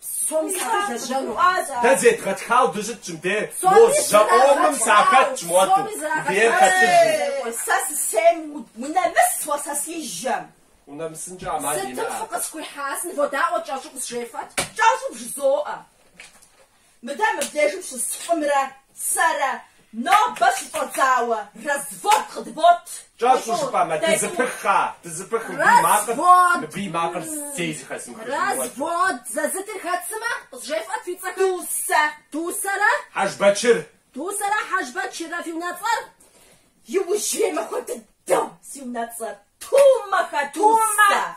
Псоми сакъызэжьэну. Дэ зедгъэтхау дыщытщ мыбде, мо жьэӏуэӏуэпӏым сахэтщ муэту, бейр хэтыжу. Сэ сысейм унэмыс уэ сэ си жьэм. Унэмысынкӏэ ӏэмал имыӏэ. Сытым фыкъысхуихьасын, водаӏуэ кӏэщӏу къызжефӏэт, кӏэщӏу бжызоӏэ. Мыдэ мыбдежым щыс лӏымрэ сэрэ Нобэ щыщӏэдзауэ развод къыдбот. Кӏэщӏу жыпӏэмэ, дызэпых, а, дызэпых, мыбы и макъыр, мыбы и макъыр зэи зэхэзмыхыжын хуэду. Развод зэзытыр хэт сымэ, къызжефӏэт фи цӏэхэр. Дусэ. Дусэрэ? Хьэжбэчыр. Дусэрэ Хьэжбэчыррэ фи унэцӏэр? Иужьрей махуэ дыдэу си унэцӏэр, Тумэхэ Дусэ. Тумэ!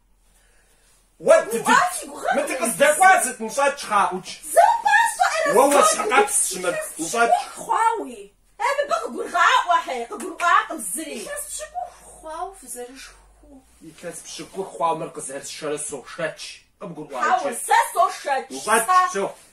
Уэ, дыдыд, мы дыкъыздэкӏуар сыт, ныщӏэкӏ, къаӏукӏ. Уэ уэщхьэкъэпс щымыт, ныщӏэкӏ. Э, мыбы къыгургъаӏуэхьи, къыгурыӏуакъым зыри. Илъэс пщыкӏух хъуауэ фызэрышхыу. Илъэс пщыкӏух хъуауэ мыр къызэрысшэрэ сошэч, къыбгурыӏуа иджы. Хьэуэ, сэ сошэч, сэ. Ныщӏэкӏ, все.